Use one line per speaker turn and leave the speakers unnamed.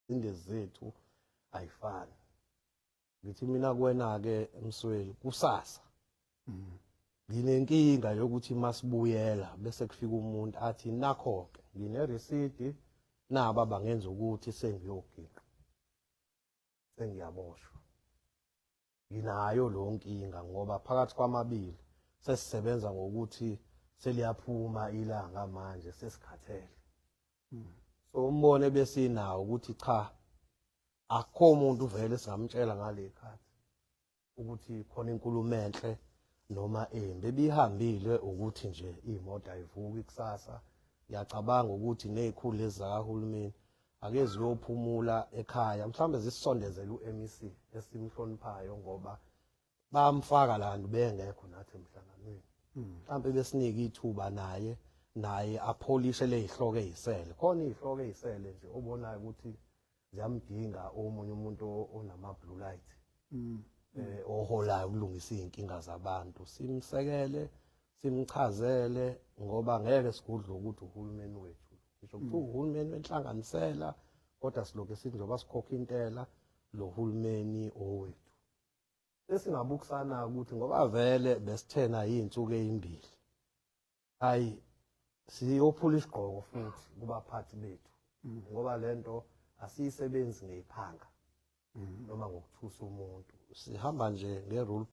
inde zethu ayifani ngithi mina kuwena-ke msweli kusasa mm. nginenkinga yokuthi masibuyela bese kufika umuntu athi nakho-ke nginerisidi naba bangenza ukuthi sengiyoginqa sengiyaboshwa Nginayo lo nkinga ngoba phakathi kwamabili sesisebenza ngokuthi seliyaphuma ilanga manje sesikhathele. Hmm. So umbono ebesinawo ukuthi cha akho umuntu vele singamtshela ngale khathi ukuthi khona inkulumo enhle noma embi ebihambile ukuthi nje imoto ayivuki kusasa ngiyacabanga ukuthi nezikhulu lezakahulumeni ake ziyophumula ekhaya mhlawumbe zisisondezele u-MEC esimhloniphayo ngoba bamfaka la nto bengekho nathi emhlanganweni hmm. mhlawumbe besinike ithuba naye naye apholishe lezihloko ezisele khona izihloko ezisele nje obonayo ukuthi ziyamdinga omunye umuntu onama blue light hmm. eh oholayo ukulungisa izinkinga zabantu simsekele simchazele ngoba ngeke sigudle ukuthi uhulumeni wethu ngisho kuthiwa mm. uhulumeni wenhlanganisela kodwa siloke sithi njengoba sikhokha intela lo hulumeni owethu esingabukusana ukuthi ngoba vele besithena iy'nsuku ey'mbili hhayi siyophula isigqoko futhi kubaphathi bethu mm. ngoba le nto asiyisebenzi ngeyiphanga mm. noma ngokuthusa umuntu sihamba nje nge-rule